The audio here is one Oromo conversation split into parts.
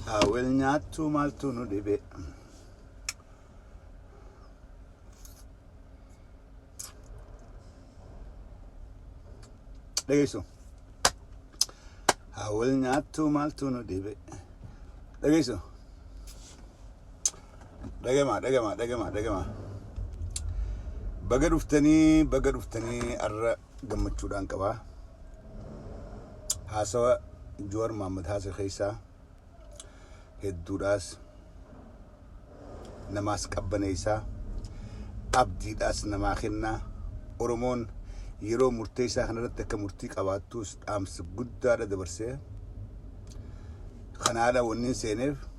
haa wal nyaattuu maaltu nu dhibe dhageessu haa wal nyaattuu maaltu nu dhibe dhageessu Dhagamaa dhagamaa dhagamaa dhagamaa. Baga dhuftanii baga dhuftanii arra gammachuudhaan qabaa. Haasawa Joowar Maammad haasa keessaa hedduudhaas namaas qabbaneessaa abdiidhaas namaa kennaa Oromoon yeroo murteessaa kanarratti akka murtii qabaattuus dhaamsa guddaadha dabarsee kanaadha wannin seeneef.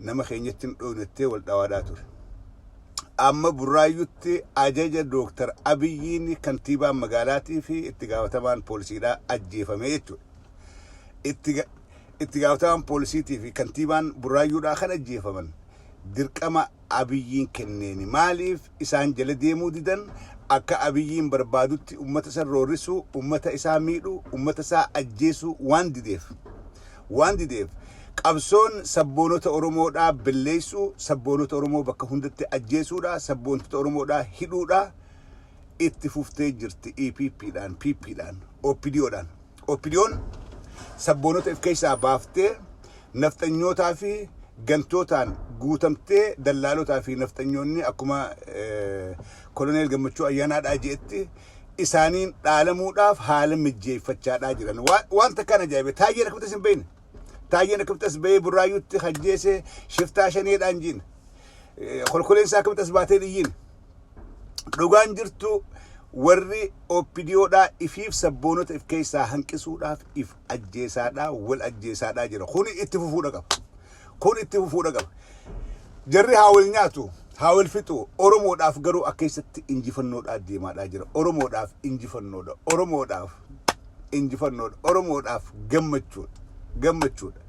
nama keenyatti hin dhoofne jettee wal dhawaadhaa ture. Amma Burraayyutti ajaja Dooktar Abiyyiin kantiibaan magaalaatii fi itti gaafatamaan poolisiidhaa ajjeefamee jechuudha. Itti ga- itti gaafatamaan poolisiitii fi kantiibaan Burraayyuudhaa kan ajjeefaman dirqama Abiyyiin kenneeni. Maaliif isaan jala deemuu didan akka Abiyyiin barbaadutti ummata san roorrisuu, ummata isaa miidhuu, ummata isaa ajjeesuu waan dideef waan dideef qabsoon sabboonota Oromoodhaa belleessuu, sabboonota Oromoo bakka hundatti ajjeesuudhaa, sabboontota Oromoodhaa hidhuudhaa itti fuftee jirti EPPdhaan, PPdhaan, OPDOdhaan. Oppidiyoon sabboonota if keessaa baaftee nafxanyootaa fi gantootaan guutamtee dallaalotaa fi nafxanyoonni akkuma Koloneel Gammachuu Ayyaanaadhaa je'etti isaaniin dhaalamuudhaaf haala mijjeeffachaadhaa jiran. Waan takkaan ajaa'ibe Taayyeen akkamitti isin beeyne? Taayyeen akkamitti as ba'ee burraayyuutti hajjeese shiftaa shaneedhaan jiin. Kolkoleensaa akkamitti as baatee dhiyyiin. Dhugaan jirtu warri OPDOdhaa ifiif sabboonota if keessaa hanqisuudhaaf if ajjeesaadhaa wal ajjeesaadhaa jira. Kuni itti fufuudha qaba. Kun itti fufuudha qaba. Jarri haa wal nyaatu, haa wal fixu. Oromoodhaaf garuu akka keessatti injifannoodhaa deemaadhaa jira. Oromoodhaaf injifannoodha. Oromoodhaaf injifannoodha. Oromoodhaaf gammachuudha. Gammachuudha.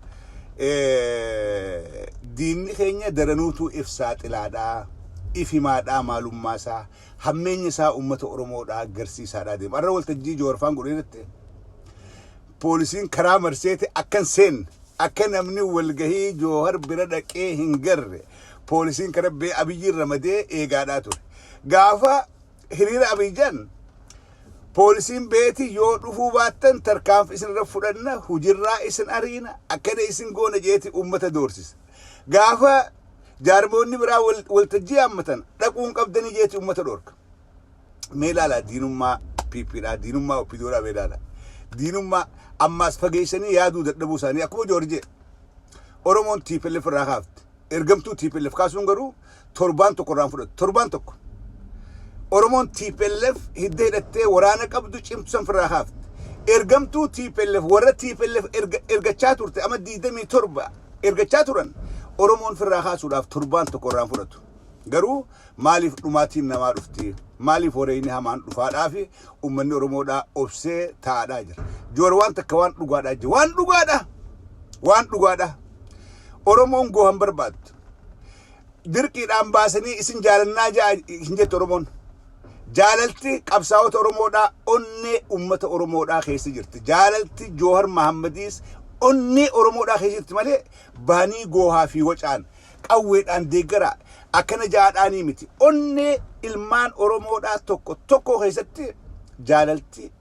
Eh, Diinni keenya daranuutuu if saaxilaadhaa, if himaadhaa maalummaa isaa, hammeenya isaa uummata Oromoodhaa garsiisaadhaa deema. Har'a waltajjii Jawaarfaan godhee irratti poolisiin karaa marseeti akka hin seenne akka namni walgahii joohar bira dhaqee hin garre poolisiin karaa bee abiyyiin ramadee eegaadhaa ture. Gaafa hiriira Abiijan poolisiin beeti yoo dhufuu baattan tarkaanfi isinirra fudhanna hujirraa isin ariina akkana isin goona jeeti uummata doorsisa. Gaafa jaarmoonni biraa waltajjii yaammatan dhaquun qabdanii jeeti uummata dhoorka. Mee ilaalaa diinummaa PPdhaa diinummaa OPDOdhaa mee ilaalaa. Diinummaa ammaas fageessanii yaaduu dadhabuu isaanii akkuma Joorjee Oromoon TPLF irraa kaafte. ergamtuu TPLF kaasuun garuu torbaan tokko irraan fudhatu. Torbaan tokko. Oromoon TPLF hidda hidhattee waraana qabdu cimtusan firraa haafte. Ergamtuu TPLF warra TPLF erga- ergachaa turte amma 27 ergachaa turan Oromoon firraa kaasuudhaaf torbaan tokko irraan fudhatu. Garuu maaliif dhumaatiin namaa dhufti? Maaliif wareeyni hamaan dhufaadhaafi? ummanni Oromoodhaa obsee taa'adhaa jira. Joor waan takka waan dhugaadhaa jira. Waan dhugaadha! Waan dhugaadha! Oromoon goohan barbaaddu. Dirqiidhaan baasanii isin jaalannaa ja'a hin jettu Oromoon. Jaalalti qabsaa'ota Oromoodhaa onnee ummata Oromoodhaa keessa jirti. Jaalalti Joohar Mahaammadiis onnee Oromoodhaa keessa jirti malee baanii goohaa fi wacaan qawweedhaan deeggaraa akkana jaadhaanii miti. Onnee ilmaan Oromoodhaa tokko tokkoo keessatti jaalalti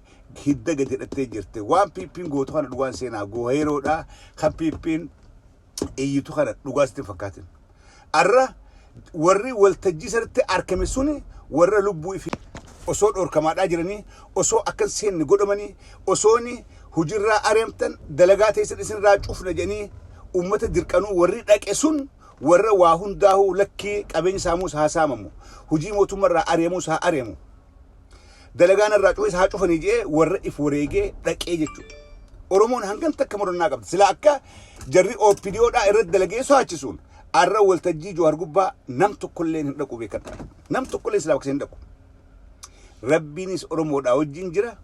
hidda gad hidhattee jirti. Waan PPn gootu kana dhugaan seenaa gooheeroodha. Kan PPn iyyitu kana dhugaa sitti hin fakkaatin. Arra warri waltajjii sanatti argame suni warra lubbuu ifi osoo dhorkamaadhaa jiranii osoo akka hin seenne godhamanii osooni hujirraa aremtan dalagaa teessan isinirraa cufna jedhanii ummata dirqanuu warri dhaqe sun warra waa hundaahuu lakkii qabeenyi saamuus haa saamamu hujii mootummarraa areemuus haa areemu dalagaa narraa cufes haa cufanii jedhee warra if wareegee dhaqee jechuudha. Oromoon hangan takka murannaa qabdi. Sila akka jarri OPDO dhaa irratti dalagee soaachisuun arra waltajjii Jawar gubbaa nam tokkollee hin dhaqu beekadha. Nam tokkollee silaa bakka hin dhaqu. Rabbiinis Oromoodhaa wajjin jira.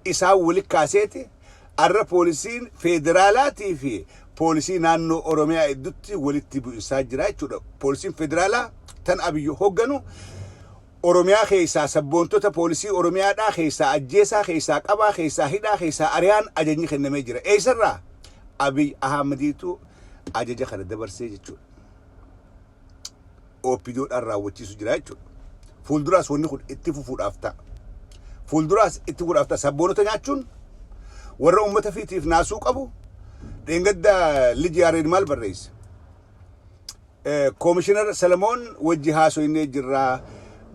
isaan wali kaaseeti arra poolisiin feederaalaatii fi poolisii naannoo Oromiyaa iddutti walitti bu'insaa jira jechuudha. Poolisiin feederaalaa tan Abiy hogganu Oromiyaa keessaa sabboontota poolisii Oromiyaadhaa keessaa ajjeesaa, keessaa qabaa, keessaa hidhaa, keessaa ariyaan ajajni kennamee jira. Eessarraa? Abiy Ahmadiitu ajaja kana dabarsee jechuudha. OPDO dhaan raawwachiisu jira jechuudha. Fuulduraas wanni kun itti fufuudhaaf ta'a. Fuulduraas itti fufuudhaaf ta'a. Sabboonota nyaachuun warra uummata fiitiif naasuu qabu dheengadda Lij Yaareed maal barreesse? Koomishinar Salamoon wajji haasoynee jirra.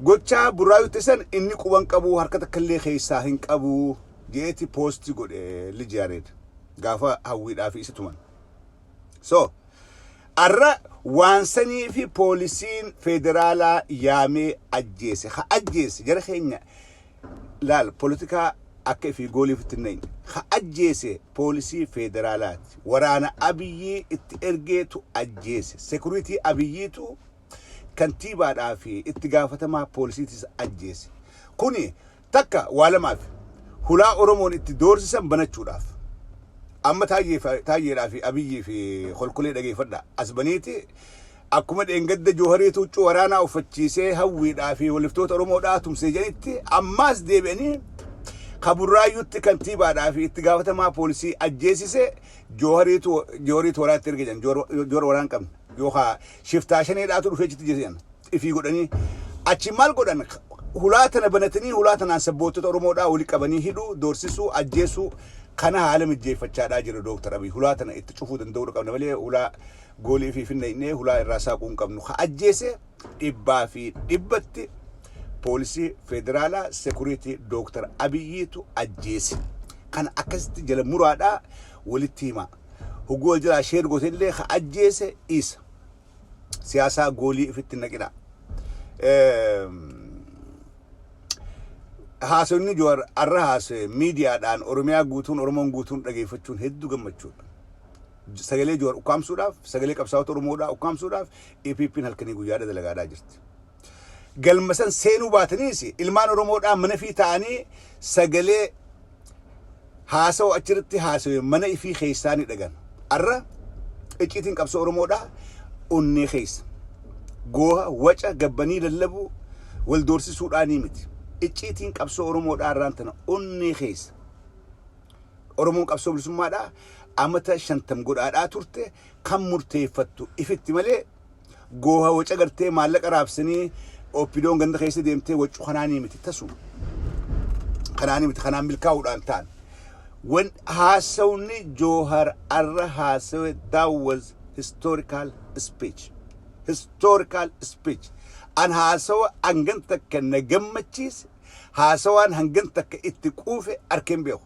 Gochaa burraayutti san inni quban qabu harka takkallee keessaa hin qabu jeeti poosti godhe Lij Yaareed gaafa hawwiidhaa fi isa tuman. So. Arra waan saniifi poolisiin feederaalaa yaamee ajjeese. Ka ajjeese jara keenya laal politikaa akka ifii goolii ofitti hin nayne. Ka ajjeese poolisii feederaalaati. Waraana Abiyyii itti ergeetu ajjeese. Sekuriitii Abiyyiitu kantiibaadhaa fi itti gaafatamaa poolisiitis ajjeese. Kuni Takka waa lamaaf, hulaa Oromoon itti doorsisan banachuudhaaf. Amma Taayyeedhaa fi Abiyyii fi Kolkolee dhageeffadhaa. As baniiti akkuma dheengadda Joohariitu huccuu waraanaa uffachiisee Hawwiidhaa fi waliftoota Oromoodhaa tumse jedhanitti ammaas deebi'anii ka Burraayyuutti kantiibaadhaa fi itti gaafatamaa poolisii ajjeesise Joohariitu waraatti erge jedhan. Joor waraan qabna. Yookaa shiftaa shaneedhaatu dhufee achitti ajjeese jedhan. ifii godhanii achiin maal godhan hulaa tana banatanii hulaa tanaan sabboottota Oromoodhaa wali qabanii hidhuu, doorsisuu, ajjeesuu kana haala mijjeeffachaadhaa jira Dooktar Abiy. Hulaa tana itti cufuu danda'uudha qabna malee hulaa goolii ifii finna hidhnee hulaa irraa saaquu hin qabnu. Ka ajjeese dhibbaa fi dhibbatti poolisii federaalaa sekuriitii Dooktar Abiyyiitu ajjeese. Kana akkasitti jala muraadhaa walitti himaa. Hoguu wal jalaa sheer goote illee ka ajjeese isa. siyaasaa goolii ifitti hin naqina. Haasofni Jawaar har'a haasa'e miidiyaadhaan Oromiyaa guutuun Oromoon guutuun dhageeffachuun hedduu gammachuudha. Sagalee Jawaar ukkaamsuudhaaf, sagalee qabsaa'ota Oromoodhaa ukkaamsuudhaaf EPP'n halkanii guyyaadha dalagaadhaa jirti. Galma san seenuu baataniis ilmaan Oromoodhaa mana fi ta'anii sagalee haasawa achirratti haasawe mana ifii keessaa ni dhagan. Arra icciitiin qabsoo Oromoodhaa onnee keessa. Gooha, waca, gabbanii lallabuu, wal doorsisuudhaa ni miti. Icciitiin qabsoo Oromoodhaa arraan tana onnee keessa. Oromoon qabsoo bilisummaadhaa amata shantam godhaadhaa turte kan murteeffattu ifitti malee gooha waca gartee maallaqa raabsanii oppidoon ganda keessa deemtee waccu kanaanii miti tasu kanaanii miti kanaan milkaa'uudhaan ta'an wan haasawni joohar arra haasawe that was historical speech historical speech an haasawa hangan takka na gammachiise haasawaan hangan takka itti quufe arkeen beeku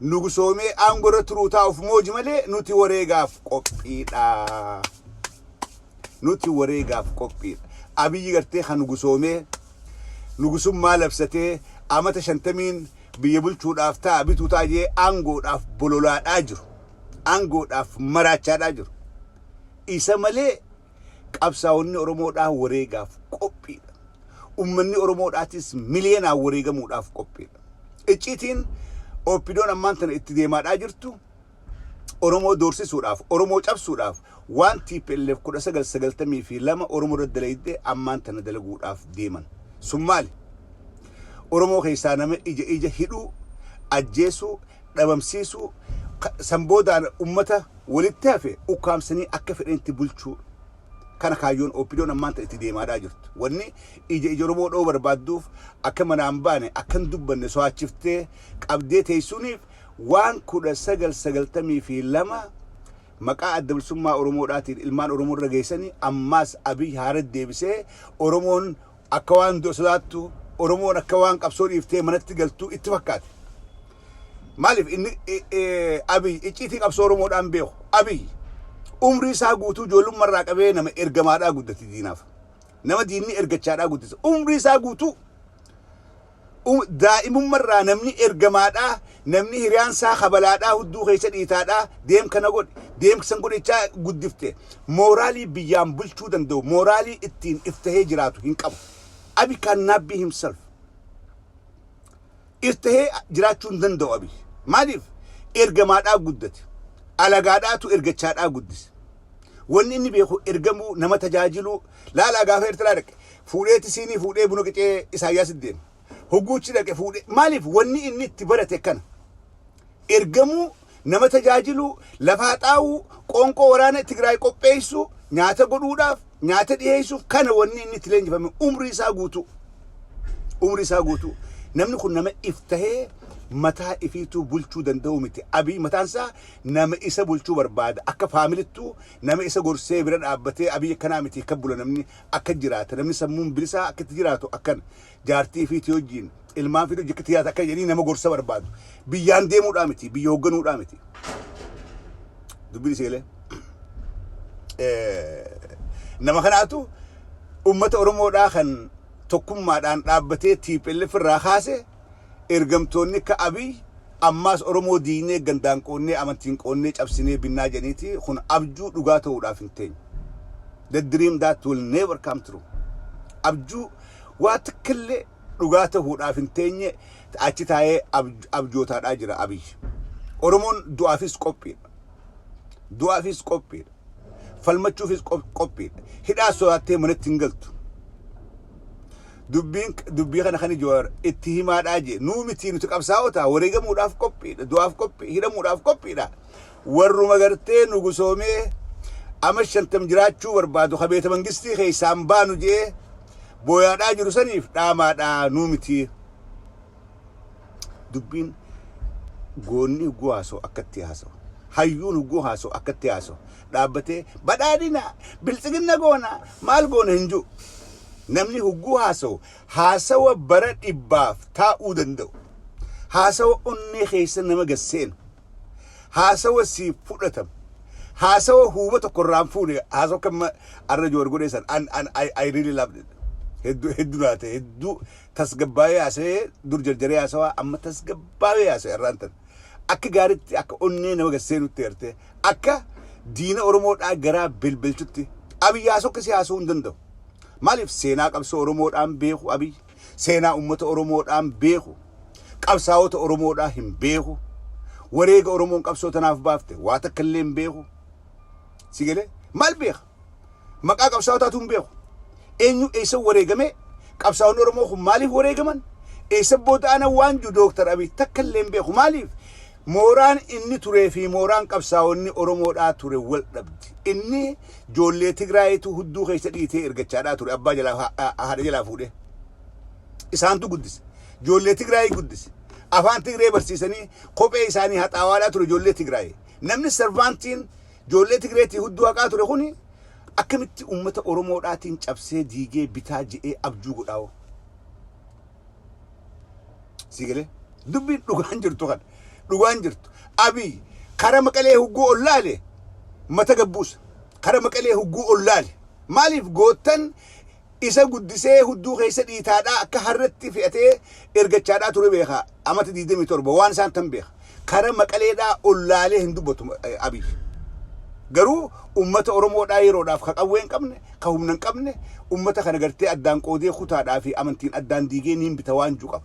nugusoomee aangorra turuu taa'uuf mooji malee nuti wareegaaf qophiidha. Nuti wareegaaf qophiidha. Abiyyi gartee kan nugusoomee nugusummaa labsatee amata shantamiin biyya bulchuudhaaf ta'a bituu ta'a jee aangoodhaaf bololaadhaa jiru. Aangoodhaaf maraachaadhaa jiru. Isa malee Qabsaa'onni Oromoodhaa wareegaaf qophiidha. Ummanni Oromoodhaatis miliyoonaan wareegamuudhaaf qophiidha. Icciitiin OPDOn ammaan tana itti deemaadhaa jirtu Oromoo doorsisuudhaaf, Oromoo cabsuudhaaf waan tplf 1992 Oromoo irratti dalayde ammaan tana dalaguudhaaf deeman. Sun maali? Oromoo keessaa nama ija ija hidhuu, ajjeesuu, dhabamsiisuu, san booda ummata walitti hafe ukkaamsanii akka fedhanitti bulchuu dha. Kana kaayyoon OPDOn ammaan tana itti deemaadhaa jirtu. Wanni ija ija Oromoo dhowuu barbaadduuf akka manaa hin baane, akka hin dubbanne soaachiftee qabdee teessuuniif waan 1992 maqaa Adda Bilisummaa Oromoo dhaatiin ilmaan Oromoo irra geessani ammaas Abiy Haarad deebisee Oromoon Akka waan du'a sodaattu, Oromoon akka waan qabsoo dhiiftee manatti galtu itti fakkaate. Maaliif inni Abiy icciitii qabsoo Oromoodhaa hin beeku. Abiy umrii isaa guutuu ijoollumma irraa qabee nama ergamaadhaa guddate diinaaf. Nama diinni ergachaadhaa guddise. Umrii isaa guutuu Daa'imummarraa namni ergamaadhaa, namni hiriyaan saa kabalaadhaa hudduu keessa dhiitaadhaa deem kana godhi, deem san godhi jechaa guddifte mooraalii biyyaan bulchuu danda'u, mooraalii ittiin if tahee jiraatu hin qabu. Abiy cannot be himself. If tahee jiraachuu hin danda'u Abiy. Maaliif? Ergamaadhaa guddate. Alagaadhaatu ergachaadhaa guddise. Wanni inni beeku ergamuu, nama tajaajiluu. Laalaa gaafa Ertiraa dhaqe. Fuudhee tisiinii fuudhee buna qicee Isaayyaasitti deeme. Hogguu achi dhaqe fuudhee maaliif wanni inni itti barate kana ergamuu, nama tajaajiluu, lafa haxaawuu, qoonqoo waraana Tigraay qopheessuu, nyaata godhuudhaaf, nyaata dhiheessuuf kana wanni inni itti leenjifame umrii isaa guutuu. Umrii isaa guutuu. Namni kun nama if tahee mataa ifiituu bulchuu danda'uu miti. Abiy mataan isaa nama isa bulchuu barbaada. Akka faamilittuu nama isa gorsee bira dhaabbatee Abiy akkanaa miti kan bula namni. akka jiraata namni sammuun bilisaa akka itti jiraatu akkana jaartii ifiitii wajjiin ilmaan fiduu jikka tiyyaata akka jedhanii nama gorsa barbaadu biyyaan deemuudhaa miti biyya hoogganuudhaa miti dubbiin seelee nama kanaatu ummata oromoodhaa kan tokkummaadhaan dhaabbatee tiiphelleef irraa kaase Ergamtoonni akka Abiy ammaas Oromoo diignee gandaan qoodnee amantiin qoodnee cabsinee binnaa jedhaniiti kun abjuu dhugaa ta'uudhaaf hin teenye. The dream that will never come true. Abjuu waa takkillee dhugaa ta'uudhaaf hin teenye achi taa'ee abjootaadhaa jira Abiy. Oromoon du'aafis qophiidha. Du'aafis qophiidha. Falmachuufis qophiidha. Hidhaa sodaattee manatti hin galtu. Dubbiin dubbii kana kan Jawaar itti himaadhaa jee nuu mitii nuti qabsaa'otaa wareegamuudhaaf qophiidha du'aaf qophii hidhamuudhaaf qophiidha warruma gartee nu gusoomee ama shantam jiraachuu barbaadu ka beeta mangistii keessaan baanu jee booyaadhaa jiru saniif dhaamaadhaa nuu mitii dubbiin goonni hugguu haasoo akkatti haasoo hayyuun hugguu haasoo akkatti haasoo dhaabbatee badhaadhina bilxiginna goona maal goona hin jiru. Namni hogguu haasawu haasawa bara dhibbaaf taa'uu danda'u, haasawa onnee keessa nama gad seenu, haasawa siif fudhatamu, haasawa huuba tokko irraa hin fuune, haasawa akka amma arra Joowar godhee san an an I, I really loved it. Hedduu hedduu naa ta'e hedduu tasgabbaa'ee haasa'ee dur jarjaree haasawaa amma tasgabbaa'ee haasa'e irraan tan akka gaaritti akka onnee nama gad seenutti eertee akka diina Oromoodhaa garaa belbelchutti Abiy haa sokkisi haasa'uu hin danda'u. Maaliif seenaa qabsoo Oromoodhaan beeku Abiy, seenaa uummata Oromoodhaan beeku, qabsaa'ota Oromoodhaa hin beeku, wareega Oromoon qabsoo tanaaf baafte waa takka illee hin beeku. Si galee? Maal beeka? Maqaa qabsaa'otaatuu hin beeku. Eenyu eessa wareegamee, qabsaa'onni Oromoo kun maaliif wareegaman, eessa booda'ana waan jiru Dooktar Abiy takka illee hin beeku. Maaliif? Mooraan inni turee fi mooraan qabsaa'onni Oromoodhaa ture wal dhabdi. Inni ijoollee Tigraayitu hudduu keessa dhiitee ergachaadhaa ture. Abbaa jalaa haadha jalaa fuudhee. Isaantu guddise. Ijoollee Tigraayii guddise. Afaan Tigree barsiisanii kophee isaanii haxaawaadhaa ture ijoollee Tigraayii. Namni sarvaantiin Joollee Tigreetii hudduu haqaa ture kuni akkamitti ummata Oromoodhaatiin cabsee diigee bitaa je'ee abjuu godhaa hoo? Sii galee? Dubbiin dhugaan jirtu kana. Dhugaan jirtu. Abiy kara Maqalee hugguu ol laale mata gabbuusa. Kara Maqalee hugguu ol laale. Maaliif goottan Isa guddisee hudduu keessa dhiitaadhaa akka harreetti fe'atee ergachaadhaa ture beeka amata 27 waan isaan tan beeka. Kara maqaleedhaa ol laalee hin dubbatu Abiy. Garuu ummata Oromoodhaa yeroodhaaf ka qawwee hin qabne, ka humna hin qabne ummata kana gartee addaan qoodee kutaadhaa fi amantiin addaan diigee niin bita waan ju qaba.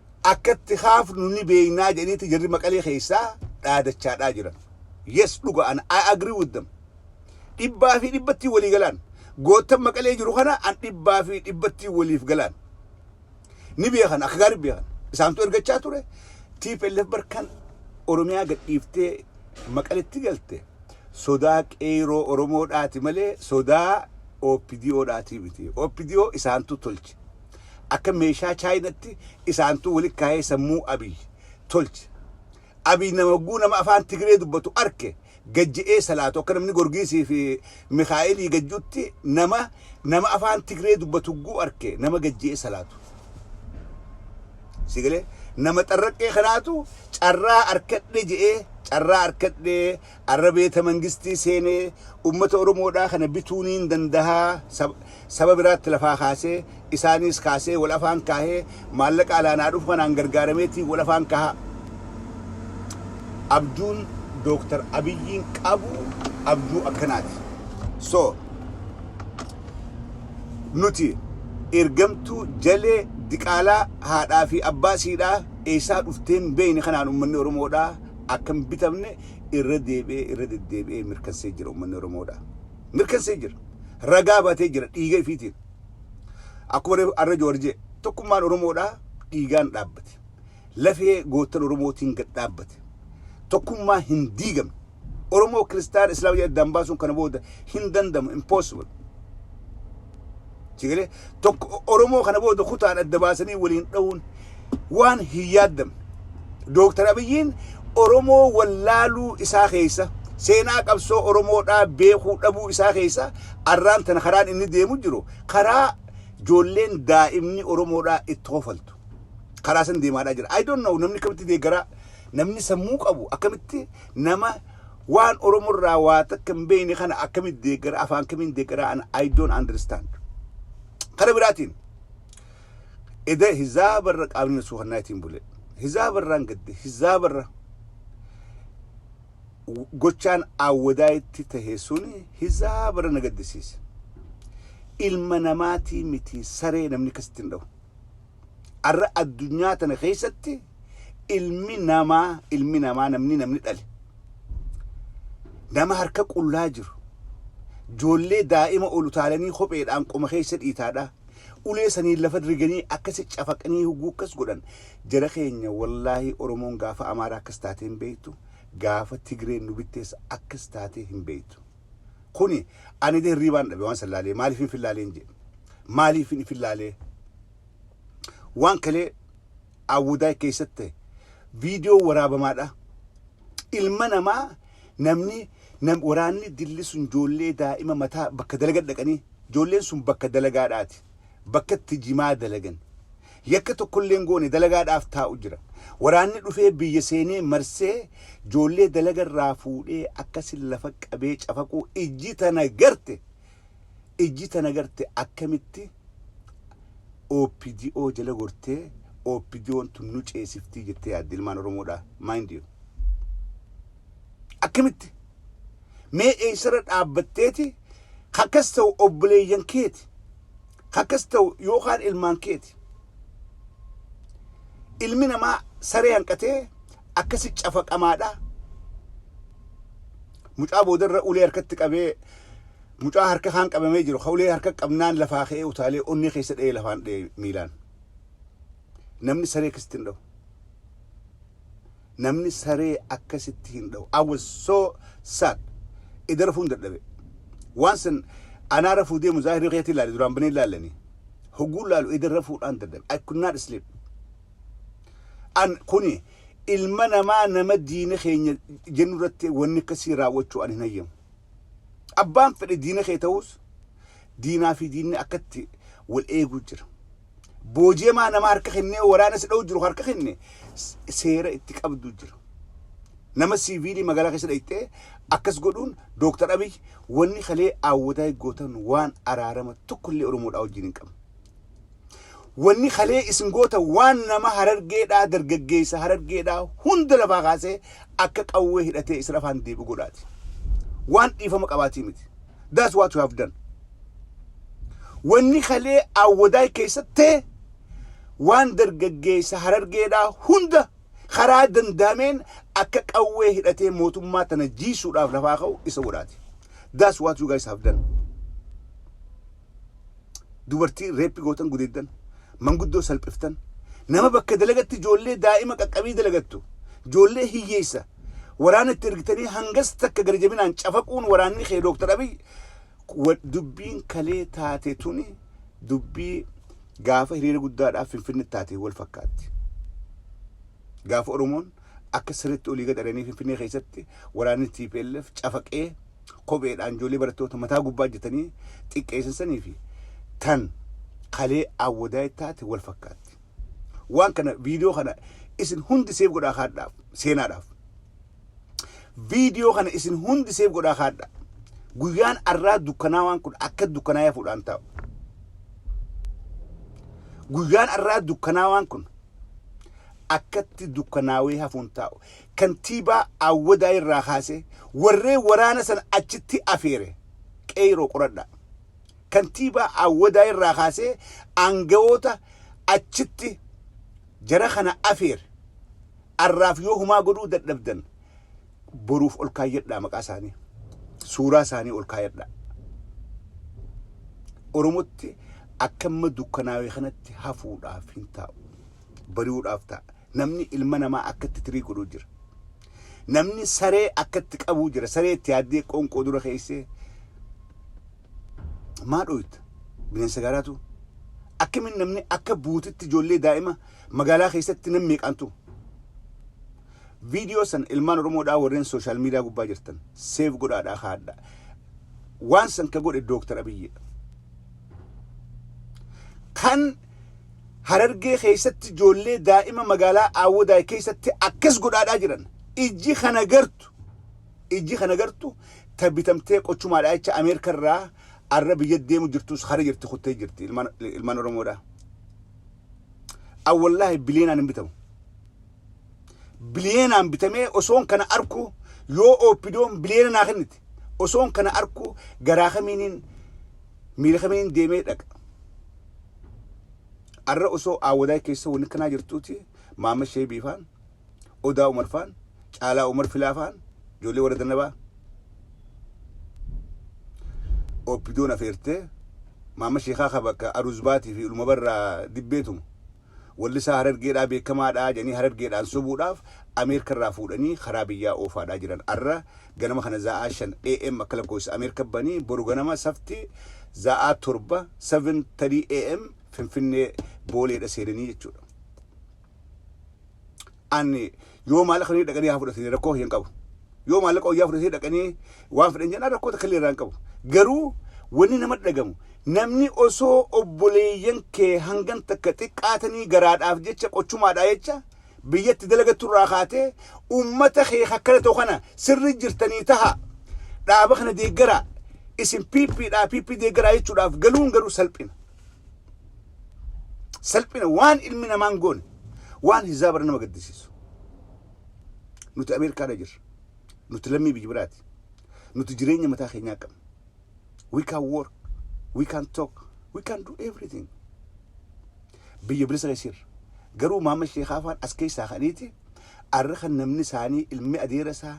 akka itti kaafnu ni beeknaa jedhaniiti jarri maqalee keessaa dhaadachaadhaa jiran. Yes dhuga an I agree with them. Dhibbaa fi dhibbatti walii galaan. Goottan maqalee jiru kana an dhibbaa fi dhibbatti waliif galaan. Ni beekan akka gaarii beekan. Isaantu ergachaa ture. TPLF barkan Oromiyaa gadhiiftee maqaletti galte sodaa qeeroo Oromoodhaati malee sodaa OPDOdhaati miti. OPDO isaantu tolche. akka meeshaa chaayinatti isaantuu wali kaayee sammuu abiy tolche abiy nama hogguu nama afaan tigiree dubbatu arke gajje'ee salaatu akka namni gorgiisii fi mikaa'elii gajjutti nama nama afaan tigiree dubbatu hogguu arke nama gajje'ee salaatu sigalee nama xarraqqee kanaatu carraa arkadhe je'ee carraa arkadhe Arra beeta mangistii seenee ummata Oromoodhaa kana bituu niin dandahaa saba biraatti lafaa kaasee isaaniis kaasee wal afaan kaahee maallaqa alaa naa dhufu kanaan gargaarameetiin wal afaan kahaa. Abjuun Dooktar Abiyyiin qabu abjuu akkanaati. So nuti ergamtuu jalee diqaalaa haadhaa fi abbaa siidhaa eessaa dhufteen beeyne kanaan ummanni Oromoodhaa akka hin bitamne irra deebi'ee irra deddeebi'ee mirkansee jira ummanni Oromoodha. Mirkansee jira. Ragaa batee jira dhiiga ifiitiin. Akkuma reefu arra Jawar jee tokkummaan Oromoodha dhiigaan dhaabbate. Lafee goottan Oromootiin gad dhaabbate. Tokkummaa hin diigamne. Oromoo kiristaana islaama jedhee addaan baasuun kana booda hin danda'amu impossible. Sigalee tokko Oromoo kana booda kutaan adda baasanii waliin dha'uun waan hin yaaddamne. Dooktar Abiyyiin Oromoo wallaaluu isaa keessa seenaa qabsoo Oromoodhaa beekuu dhabuu isaa keessa arraan tana karaan inni deemu jiru karaa joolleen daa'imni Oromoodhaa itti hofaltu. Karaa san deemaadhaa jira. I don't know namni akkamitti deeggaraa namni sammuu qabu akkamitti nama Waan oromo irraa waa takka hin beeyne kana akkamitti deeggara afaan kamiin deeggara an I don't understand. Kara biraatiin eda hizaaba irra qaamni na suukannaa itiin bule. Hizaaba irraan gadde hizaaba irra gochaan awwadaa itti tahe suni hizaaba irra na gaddisiise. Ilma namaatii miti saree namni akkasitti hin dhahu. Arra addunyaa tana keessatti ilmi namaa ilmi namaa namni namni dhale nama harka qullaa jiru joollee daa'ima ol utaalanii kopheedhaan qoma keessa dhiitaadha ulee saniin lafa riganii akkasi cafaqanii huguu akkas godhan jara keenya wallaahi oromoon gaafa amaaraa akkas taatee hin beektu gaafa tigreen nu bitteessa akkas taatee hin beektu. Kuni ani illee hirriibaan dhabe waan san laalee maaliifin fin laaleen jedhe. Maaliifin ifin laalee. Waan kalee Awudaay keessatti ta'e viidiyoo waraabamaadha. Ilma namaa namni nam, waraanni dilli sun ijoollee daa'ima mataa bakka dalaga dhaqanii ijoolleen sun bakka dalagaadhaati. bakka itti jimaa dalagan yakka tokkollee hin goone dalagaadhaaf taa'u jira. Waraanni dhufee biyya seenee marsee joollee dalaga irraa fuudhee akkasin lafa qabee cafaquu ijji tana garte ijji tana garte akkamitti OPDO jala gortee OPDOn tun nu ceesiftii jettee yaaddi ilmaan Oromoodhaa mind you akkamitti Mee eessarra dhaabbatteeti akkas ta'u obboleeyyan keeti akkas ta'u yookaan ilmaan keeti. Ilmi namaa saree hanqatee akkasi cafaqamaadha. Mucaa boodarra ulee harkatti qabee mucaa harka kaan qabamee jiru ka ulee harka qabnaan lafaa ka'ee utaalee onnee keessa dha'ee lafaan dha'ee miilaan. Namni saree akkasitti hin dha'u. namni saree akka sitti hin dhawu I was so sad ida rafuun dadhabe waan san anaa rafuu deemu zaahiri keetii laale duraan banee laalani hoguu laalu ida rafuudhaan dadhabe I could not sleep an kuni ilma namaa nama diina keenya jennu irratti wanni akkasii raawwachuu an hin hayyamu. Abbaan fedhe diina kee ta'uus diinaa fi diinni akkatti wal eeguu jira. Booji'amaa nama harka kennee waraana si dha'u jiru harka kenne seera itti qabdu jira. Nama siiviilii magaalaa keessa dhayxee akkas godhuun Dooktar Abiy wanni kalee aawwadaa gootan waan araarama tokkollee Oromoodhaa wajjin hin qabne. Wanni kalee isin goota waan nama harargeedhaa dargaggeessa harargeedhaa hunda lafaa kaasee akka qawwee hidhatee isin afaan deebi'u godhaati. Waan dhiifama qabaatii miti. That's what you have done. Wanni kalee awwadaay keessatti waan dargaggeessa harargeedhaa hunda karaa danda'ameen akka qawwee hidhatee mootummaa tana jiisuudhaaf lafaa ka'u isa godhaati. That's what you guys have done. dubartii reeppi gootan gudeeddan, manguddoo salphiftan, nama bakka dalagatti ijoollee daa'ima qaqqabii dalagattu, ijoollee hiyyeessa waraana itti ergitanii hangas takka gadi jabinaan cafaquun waraanni kee Dooktar Abiy wa- dubbiin kalee taate tuni dubbii gaafa hiriira guddaadhaaf Finfinnetti taate wal fakkaatti. Gaafa Oromoon akka sirriitti olii gad ari'anii Finfinnee keessatti waraanni TPLF cafaqee kopheedhaan ijoollee barattoota mataa gubbaa hojjetanii xiqqeessan sanii fi tan kalee awwadaa ittaate wal fakkaatti. Waan kana viidiyoo kana isin hundi seef godhaa kaadhaaf seenaadhaaf. Viidiyoo kana isin hundi seef godhaa kaadhaa. Guyyaan arraa dukkanaa waan kun akka dukkanaa yafuudhaan taa'u. Guyyaan arraa dukkanaa waan kun akkatti dukkanaawee hafuun taa'u. Kantiibaa Awwadaay irraa kaasee warreen waraana sana achitti afeere Qeeyroo qoradhaa. Kantiibaa Awwadaay irraa kaasee aangawoota achitti jara kana afeere arraaf yoo humaa godhuu dadhabdan boruuf ol kaayyadhaa maqaa isaanii. Suuraa isaanii ol kaayadhaa. Oromotti akka amma dukkanaawe kanatti hafuudhaaf hin taa'u. bari'uudhaaf ta'a. Namni ilma namaa akka itti tirii godhuu jira. Namni saree akka itti qabuu jira. Saree itti yaaddee qoonqoo dura keessee maa dhooyta bineensa gaaraatu akkamiin namni akka buutitti ijoollee daa'ima magaalaa keessatti nam meeqaantu viidiyoo san ilmaan oromoodhaa warreen sooshaal miidiyaa gubbaa jirtan seef godhaadhaa kaadha waan san ka godhe dooktar abiyyidha kan Harargee keessatti ijoollee daa'ima magaalaa Aawwadaay keessatti akkas godhaadhaa jiran. Ijji kan agartu ijji kan agartu ta bitamtee qochumaadhaa jecha Ameerika irraa arra biyya deemu jirtus hara jirti kuttee jirti ilmaan ilmaan Oromoodhaa. Awwallaahi biliyeenaan hin bitamu. Biliyeenaan bitamee osoon kana arku yoo ooppidoon biliyeena naa kennite. osoon kana arkuu garaa kamiinin miila kamiinin deemee dhaqa arra osoo aawwadaa keessa wanni kanaa jirtuuti maama sheebii faan odaa umar faan caalaa umar filaa faan ijoollee warra dannabaa oppidoon afeertee maama sheekaa ka bakka aruzbaatii fi uluma barraa dibbeetumu Wallisaa Harargeedhaa beekamaadhaa jedhanii Harargeedhaan sobuudhaaf Ameerkarraa fuudhanii karaa biyyaa oofaadhaa jiran arra ganama kana za'aa 5 AM akka lakkoofsa Ameerka banii boru ganama safti za'aa 7 7:30 AM Finfinnee Booleedha seenanii jechuudha. an yoo maallaqa fudhatanii dhaqanii haa fudhatanii rakkoo hin qabu. Yoo maallaqa wayyaa fudhatanii dhaqanii waan fedhan jedhan rakkoo takka illee irraa hin qabu. Garuu wanni nama dhagamu namni osoo obboleeyyan kee hangan takka xiqqaatanii garaadhaaf jecha qochumaadhaa jecha biyyatti dalagattu irraa kaatee uummata kee akkana ta'u kana sirri jirtanii taha dhaaba kana deeggaraa isin piippiidhaa piippii deeggaraa jechuudhaaf galuun garuu salphina. salphina waan ilmi namaa hin goone waan hizaabarra nama gaddisiisu nuti ameerikaarra jirra nuti lammii biyya biraati nuti jireenya mataa keenyaa qabna we can work we can talk we can do everything biyya bilisa keessirra garuu maamma sheekaa afaan as keessaa kaniiti arra kan namni isaanii ilmi adeera isaa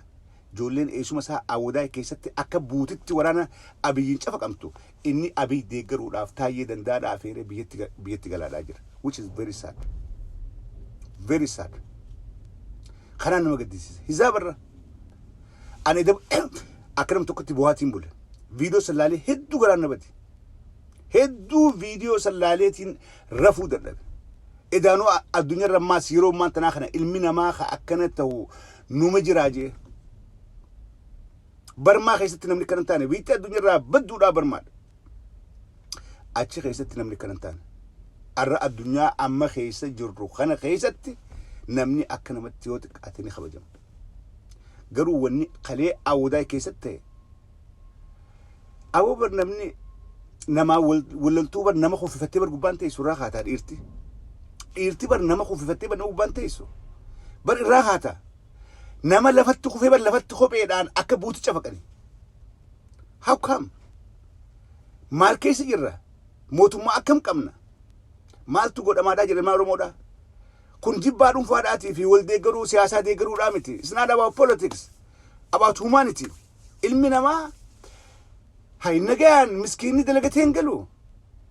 ijoolleen eessuma isaa awwadaa keessatti akka buutitti waraana abiyyiin cafaqamtu Inni Abiy deeggaruudhaaf Taayyee Dandaadha afeeree biyyatti biyyatti galaadhaa jira. Which is very sad. Very sad. Kanaan nama gaddisiisa. Hizaaba irra. Ani dab akka nam tokkotti buhaatiin bule. Viidiyoo sallaalee hedduu garaan na bade. Hedduu viidiyoo sallaaleetiin rafuu dadhabe. Edaanuu a- addunyaa irra ammaas yeroo ammaan tanaa kana ilmi namaa ka akkana ta'u numa jiraa jee. Barmaa keessatti namni kana hin taane biitti addunyaarraa badduudhaa barmaadha. Achi keessatti namni kana hin taane. Arra addunyaa amma keessa jirru kana keessatti namni akka namatti yoo xiqqaate ni kabajama. Garuu wanni kalee awwadaa keessatti ta'e awwa bar namni namaa wallaltuu bar nama kuffifattee bar gubbaan teessu irraa kaataa dhiirti. Dhiirti bar nama kuffifattee bar nama gubbaan teessu. Bar irraa kaataa. Nama lafatti kufee bar lafatti kopheedhaan akka buuti cafaqani. How come? Maal keessa jirra? Mootummaa akkam qabna? Maaltu godhamaadhaa jira ilmaan Oromoodhaa? Kun jibbaa dhuunfaadhaatii fi wal deeggaruu siyaasaa deeggaruudhaa miti. It's not about politics. About humanity. Ilmi namaa hay nagayaan miskiinni dalagatee hin galu.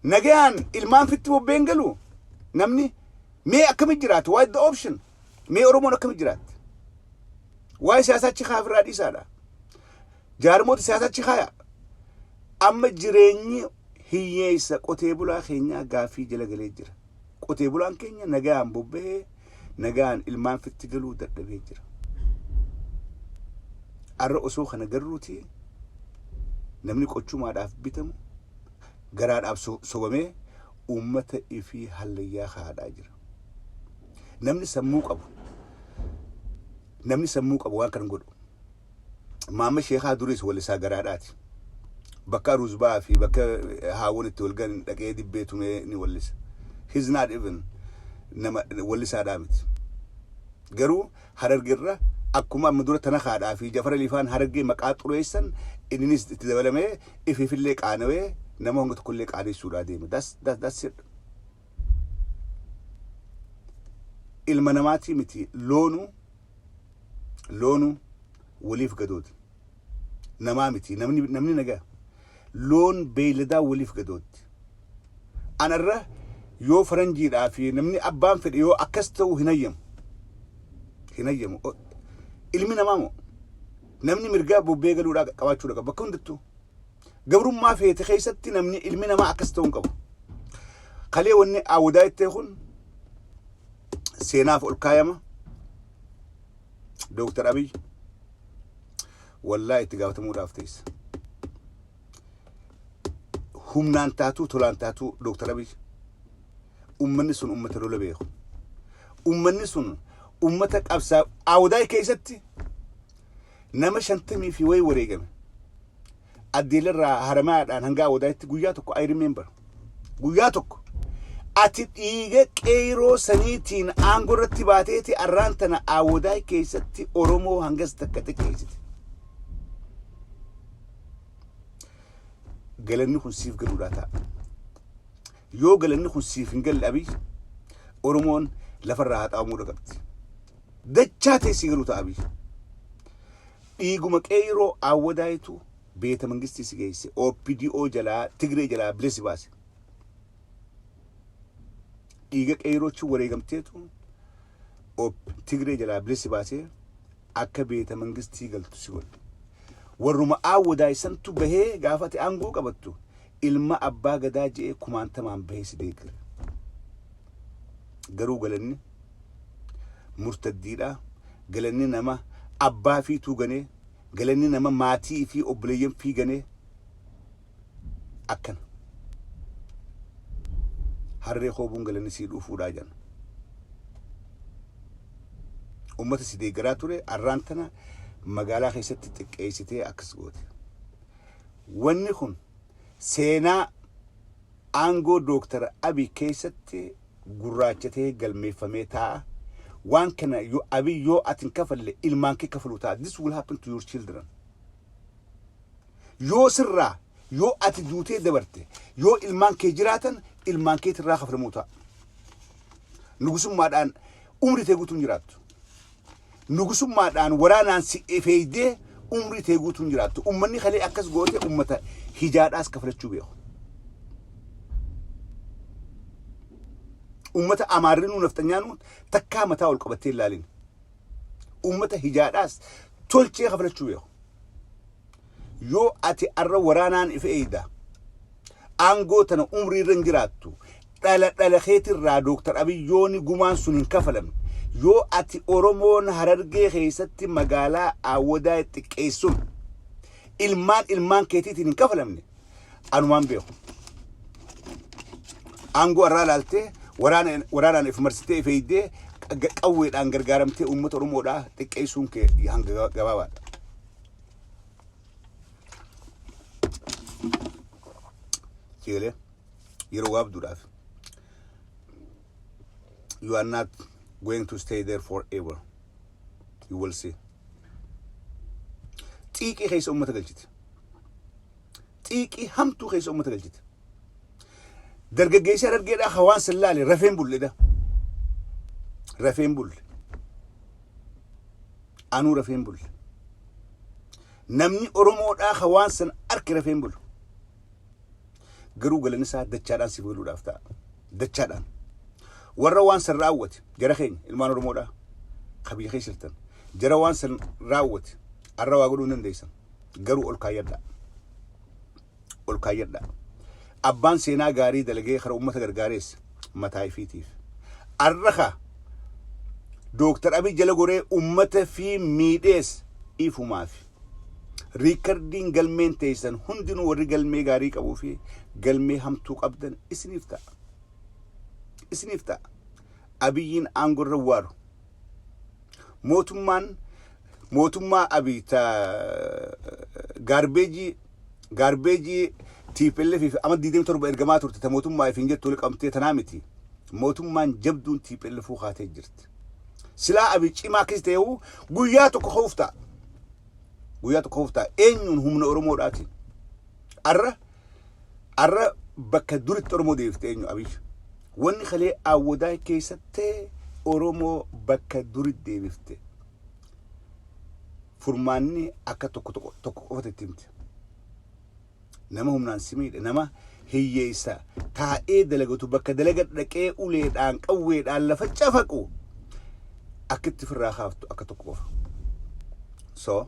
Nagayaan ilmaan fitti bobbee hin galu. Namni mee akkamitti jiraatu? What is the option? Mee Oromoon akkamitti jiraatte? Waa'ee siyaasaa achi kaa'aa ofirraa dhiisaadha. Jaarmoota siyaasaa achi kaa'aa. Amma jireenyi hiyyeessa qotee bulaa keenyaa gaaffii jala galee jira. Qotee bulaan keenya nagaan bobba'ee nagaan ilmaan fitti galuu dadhabee jira. Arra osoo kana garruuti namni qochumaadhaaf bitamu garaadhaaf so- sobamee uummata ifii hallayyaa haadhaa jira. Namni sammuu qabu namni sammuu qabu waan kan godhu. Maamma sheekaa duriis walisaa garaadhaati. Bakka Aruuzbaa fi bakka haawwan itti wal gahan dhaqee dibbee tumee ni wallisa. He's not even nama wallisaadhaa miti. Garuu harargerra akkuma amma dura tanakaadhaa fi jafara lifaan harargee maqaa xureessan inninis itti dabalamee ifiifillee qaanawee nama hanga tokkollee qaaneessuudhaa deema. That's, that, that's it. ilma namaatii miti loonu loonu waliif gadooti namaa miti namni namni nagaa loon beeyladaa waliif gadootti anarra yoo faranjiidhaa fi namni abbaan fedhe yoo akkas ta'u hin hayyamu hin hayyamu O- ilmi namaa moo namni mirgaa bobbee galuudhaa qabaachuu qaba bakka hundattuu Gabrummaa feete keessatti namni ilmi namaa akkas ta'uu hin qabu. Kalee wanni awwadaa jettee kun seenaaf ol kaayama. Dooktar Abiy wallaahi itti gaafatamuudhaaf teessa. Humnaan taatuu tolaan taatuu Dooktar Abiy ummanni sun ummata lola beeku. Ummanni sun ummata qabsaa awwadaa keessatti Nama shantamii fi wayii wareegame. Addeelarraa Haramaadhaan hanga Awwadaayitti guyyaa tokko I remember. Guyyaa tokko. Ati dhiiga qeeyroo saniitiin aangoo irratti baateeti arraan tana Awwadaay keessatti Oromoo hangas takka xiqqeessite. Galanni kun siif galuudhaa ta'a. Yoo galanni kun siif hin galle Abiy Oromoon lafarraa haxaa'amuu dhaqabdi. dachaa teessii garuu ta abiy dhiiguma qeeyroo awwadaayitu beeta mangistii si geeyse OPDO jalaa tigree jalaa bilisa si baase dhiiga qeeyroochi wareegamteetu op tigree jalaa bilisa si baasee akka beeta mangistii galtu si godhe warruma awwadaay santu bahee gaafate aangoo qabattu Ilma Abbaa Gadaa je'ee kumaantamaan bahee si deeggare. Garuu galanni murtaddiidhaa, galanni nama abbaa ifiituu ganee, galanni nama maatii ifii obboleeyyan fii ganee akkana. Harree hoobuun galanni sii dhuufuudhaa jedhan. Ummata si deeggaraa ture arraan tana magaalaa keessatti xiqqeessitee akkas goote. Wanni kun seenaa aangoo Dooktar Abiy keessatti gurraacha tahee galmeeffamee taa'a. Waan kana Abiy yoo ati hin kafalle ilmaan kee kafalu ta'a. This will happen to your children. Yoo sirraa yoo ati duutee dabarte yoo ilmaan kee jiraatan ilmaan keetirraa kafalamuu ta'a. Nugusummaadhaan umrii tee guutuun jiraattu. Nugusummaadhaan waraanaan si efeeydee umrii tee guutuu hin jiraattu. Ummanni kalee akkas goote ummata hijaadhaas kafalachuu beeku. Ummata amaarrinuu nafxanyaanuu takkaa mataa ol qabattee hin laalin. Ummata hijaadhaas tolchee kafalachuu beeku. Yoo ati arra waraanaan if eeyda, aangoo tana umrii irra hin jiraattu. Dhala dhala keetirraa Dooktar Abiy yooni gumaan sun hin kafalamne. Yoo ati Oromoon Harargee keessatti magaalaa Aawwadaa xiqqeessun ilmaan ilmaan keetiitiin hin kafalamne anumaan beeku. Aangoo arraa laaltee waraana waraanaan if marsitee if eeydee qawweedhaan gargaaramtee uummata Oromoodhaa xiqqeessuun kee hanga gabaabaadha. Seelee yeroo gaabduudhaaf you are not going to stay there forever you will see xiiqii keessa uummata galchite xiiqii hamtuu keessa uummata galchite dargaggeessaa dargeedhaa hawaan sillaale rafeen bulledha rafeen bulle Anuu rafeen bulle. Namni Oromoodhaa ka waan san arke rafeen bulu. Garuu galanni isaa dachaadhaan siif galuudhaaf ta'a. Dachaadhaan. Warra waan san raawwate jara keenya ilmaan Oromoodhaa ka biyya keessa jirtan jara waan san raawwate arra waa godhuu hin dandeessan garuu ol kaayyadhaa. ol kaayyadhaa. Abbaan seenaa gaarii dalagee kara ummata gargaarees mataa ifiitiif. Arra ka Dooktar Abiy jala goree ummata fi miidhees ifumaafi. Riikardiin galmeen teessan hundinuu warri galmee gaarii qabuu fi galmee hamtuu qabdan isiniif ta'a. Isiniif ta'a. Abiyyiin aangorra waaru. Mootummaan mootummaa Abiy ta gaarbeejii gaarbeejii TPLF fi amma 27 ergamaa turte ta mootummaa ifiin jettu wal qabamtee tanaa miti. Mootummaan jabduun TPLF kaatee jirti. Silaa Abiy cimaa akkasii ta'eehu guyyaa tokko ka'uuf ta'a. Guyyaa tokko ka'uuf ta'a. Eenyuun humna Oromoodhaatiin. Arra Arra bakka dur itti Oromoo diriirte eenyu Abiy? Wanni kalee Awwadaay keessatti Oromoo bakka duri deebifte furmaanni akka tokko tokko tokko qofatti itti himte. Nama humnaan si miidhe, nama hiyyeessa taa'ee dalagatu bakka dalaga dhaqee uleedhaan qawweedhaan lafa cafaqu akka itti firraa kaaftu akka tokko qofa. So,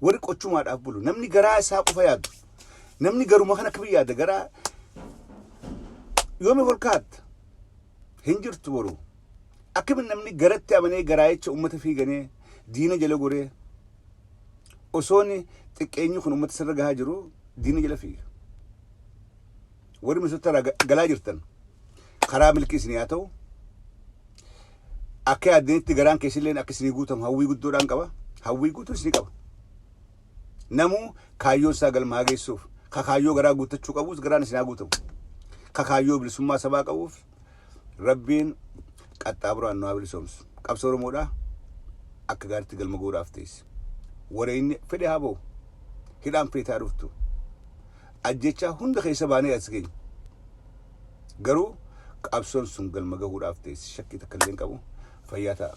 Warri qochumaadhaaf bulu. Namni garaa isaa qofa yaadu. Namni garuma kana akkamiin yaada garaa yoomi kolkaatta hin jirtu boru. Akkamiin namni garatti amanee garaayicha uummata fiiganee diina jala goree osoon xiqqeenyi kun uummata sirra gahaa jiru diina jala fiiga. Warri misoota irraa ga- galaa jirtan karaa milkii isin yaa ta'u. akka yaaddanitti garaan keessilleen akka isinii guutamu hawwii guddoodhaan qaba. Hawwii guutuun isinii qaba. Namuu kaayyoon isaa galmaa geessuuf ka kaayyoo garaa guuttachuu qabuus garaan isinaa guutamu. Ka kaayyoo bilisummaa sabaa qabuuf rabbiin qaxxaaburaan nu haa bilisoomsu. Qabsoo Oromoodhaa akka gaaritti galma goodhaaf teessi. Wareenni fedhe haa ba'u. Hidhaan feetaa dhuftu. Ajjechaa hunda keessa baanee as geenye. Garuu qabsoon sun galma gahuudhaaf ta'es shakkii takka illee hin qabu. Fayyaa ta'a.